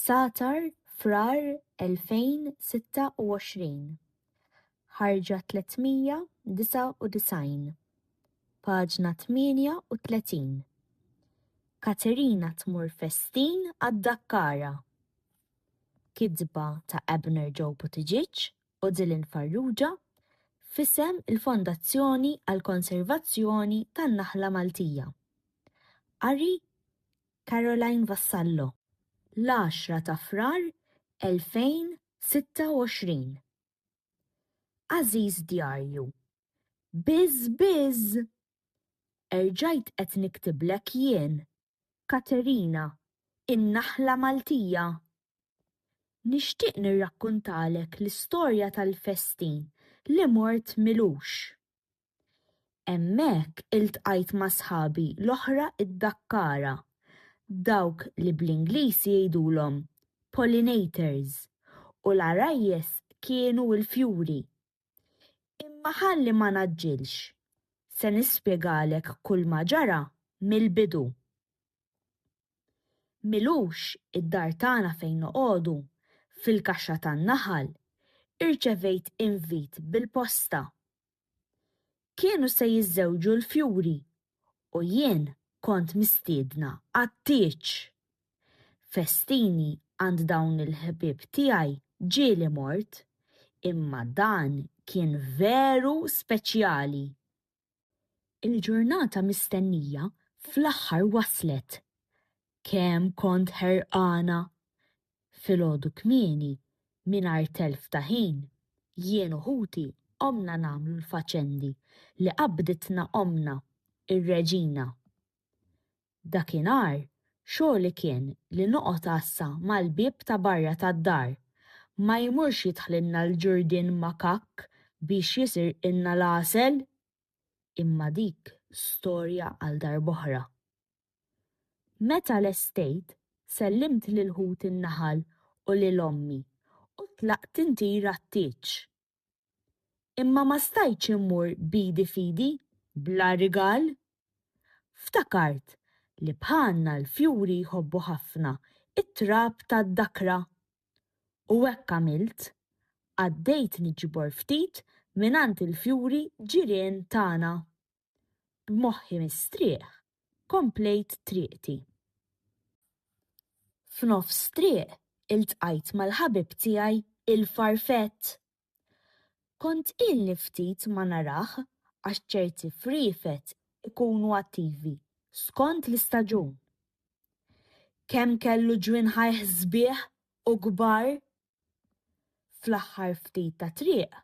Sa'tar, Frar 2026, ħarġa 399, paġna 38, Katerina tmur festin għad-Dakkara! Kitba ta' Abner Joe Buttigieg u Dylan Farrugia f'isem il-Fondazzjoni għall-Konservazzjoni tan-Naħla Maltija. Qari Caroline Vassallo, l-għaxra ta' Frar 2026. Għażiż djarju, Biż biż! Erġajt qed niktiblek jien, Katerina, in-naħla Maltija. Nixtieq nirrakkuntalek l-istorja tal-festin li mort m'ilux. Hemmhekk iltqajt ma' sħabi l-oħra d-Dakkara, dawk li bl-Ingliż jgħidulhom pollinators, u l-għarajjes kienu l-fjuri. Imma ħalli ma ngħaġġilx, se nispjegalek kulma ġara mill-bidu. Milux id-dar tagħna fejn noqogħdu, fil-kaxxa tan-naħal, irċevejt invit bil-posta Kienu se jiżżewġu l-fjuri u jien kont mistiedna għat-tieġ. Festini għand dawn il-ħbieb tiegħi ġieli mort, imma dan kien veru speċjali. Il-ġurnata mistennija fl-aħħar waslet. Kemm kont ħerqana! filgħodu kmieni mingħajr telf ta' ħin, jien u ħuti qomna nagħmlu l-faċendi li qabbditna ommna, ir-Reġina. Dakinhar xogħli kien li noqgħod għassa mal-bieb ta' barra tad-dar, ma jmurx jidħlilna l-ġurdien makakk biex jisirqilna l-għasel! Imma dik storja għal darb'oħra. Meta lestejt, sellimt lil ħut in-naħal u lil ommi u tlaqt intir għat-tieġ. Imma ma stajtx immur b'idi f'idi, bla rigal. Ftakart li bħalna l-fjuri jħobbu ħafna t-trab tad-dakra. U hekk għamilt. Għaddejt niġbor ftit mingħand il-fjuri ġirien tagħna. B'moħħi mistrieħ komplejt triqti. F'nofs triq iltqajt mal-ħabib tiegħi il-farfett. Kont ilni ftit ma narah għax ċerti friefet ikunu attivi skond l-istaġun. Kemm kellu ġwinħajh sbieħ u kbar! Fl-aħħar ftit ta' triq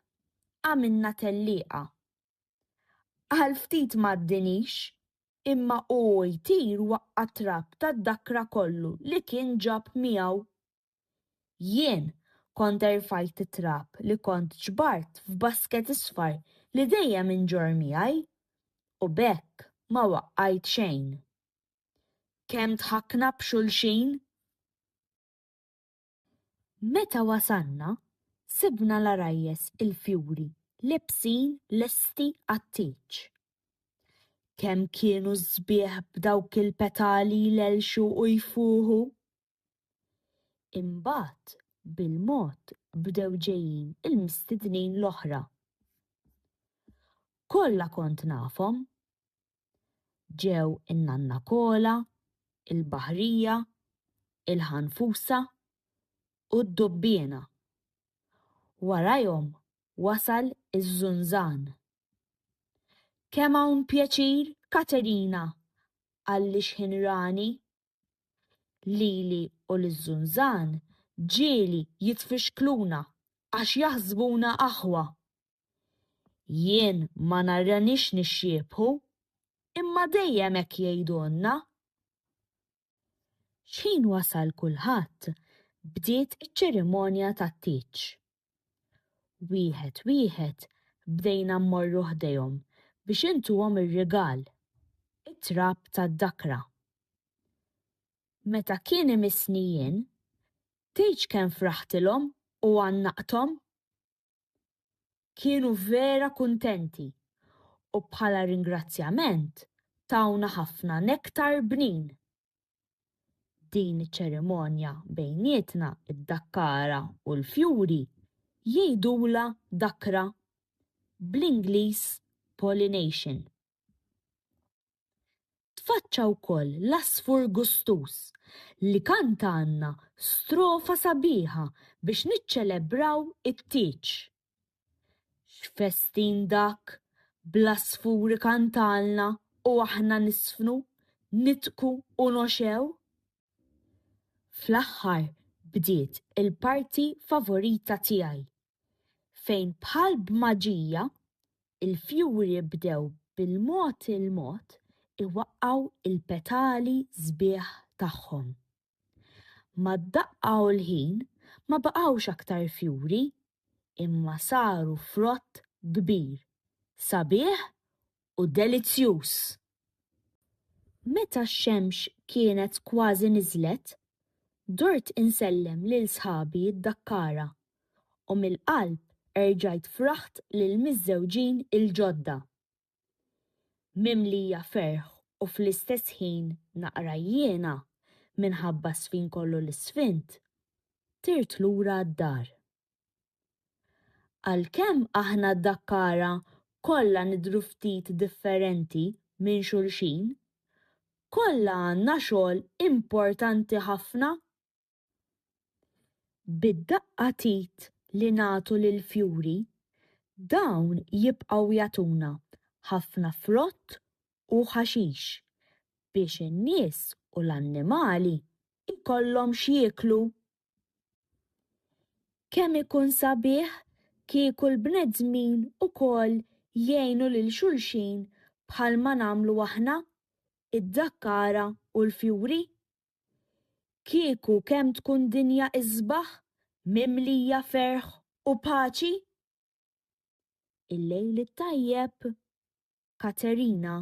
għamilna tellieqa Għal ftit m'għaddinix, imma u hu jtir waqqa' t-trab tad-dakra kollu li kien ġab miegħu. Jien kont erfajt it-trab li kont ġbart f'basket isfar li dejjem inġorr miegħi, u b'hekk ma waqqajt xejn. Kemm dħakna b'xulxin! Meta wasalna, sibna l-għarajjes il-fjuri lebsin lesti għat-tieġ. Kemm kienu sbieħ b'dawk il-petali jlellxu u jfuħu! Imbagħad bil-mod bdew ġejjin il-mistednin l-oħra. Kollha kont nafhom, ġew in-Nanna Kola, il-Baħrija, il-Ħanfusa u d-Dubbiena. Warajhom wasal iż-Żunżan. Kemm hawn pjaċir, Katerina, għall-ixħin rani! Lili u liż-Żunżan ġieli jitfixkluna għax jaħsbuna aħwa. Jien ma narranix nixxiebħu, imma dejjem hekk jgħidulna. X'ħin wasal kulħadd, bdiet iċ-ċerimonja tat-tieġ. Wieħed wieħed bdejna mmorru ħdejhom biex intuhom ir-rigal, it-trab tad-dakra. Meta kien imissni jien, tgħidx kemm fraħtilhom u għannaqthom? Kienu vera kuntenti u bħala ringrazzjament tawna ħafna nektar bnin. Din iċ-ċerimonja bejnietna id-dakkara u l-fjuri jgħidulha dakra, bl-Ingliż pollination. Tfaċċa wkoll l-għasfur gustuż li kantalna strofa sabiħa biex niċċelebraw it-tieġ. X'festin dak, bl-għasfuri kantalna u aħna nisfnu, nidhku u noxgħu! Fl-aħħar bdiet il-parti favorita tiegħi, fejn bħal b'maġija l-fjuri bdew bil-mod il-mod iwaqqgħu l-petali sbieħ tagħhom. Mad-daqqa u l-ħin ma baqgħux aktar fjuri imma saru frott kbir, sabiħ u delizzjuż. Meta x-xemx kienet kważi niżlet, dort insellem lil sħabi d-Dakkara u mill-qalb erġajt fraħt lill-miżżewġin il-ġodda. Mimlija ferħ u fl-istess ħin naqra għjiena minħabba s-sfin kollu li sfint, tirt lura d-dar. Għalkemm aħna Dakkara kollha nidhru ftit differenti minn xulxin, kollha għandna xogħol importanti ħafna. Bid-daqqa t'id li nagħtu lill-fjuri, dawn jibqgħu jagħtuna ħafna frott u ħaxix biex in-nies u l-annimali jkollhom x'jieklu. Kemm ikun sabiħ kieku l-bnedmin ukoll jgħinu lil xulxin bħalma nagħmlu aħna, id-dakkara u l-fjuri. Kieku kemm tkun dinja isbaħ mimlija ferħ u paċi! Il-lejl it-tajjeb, Katerina.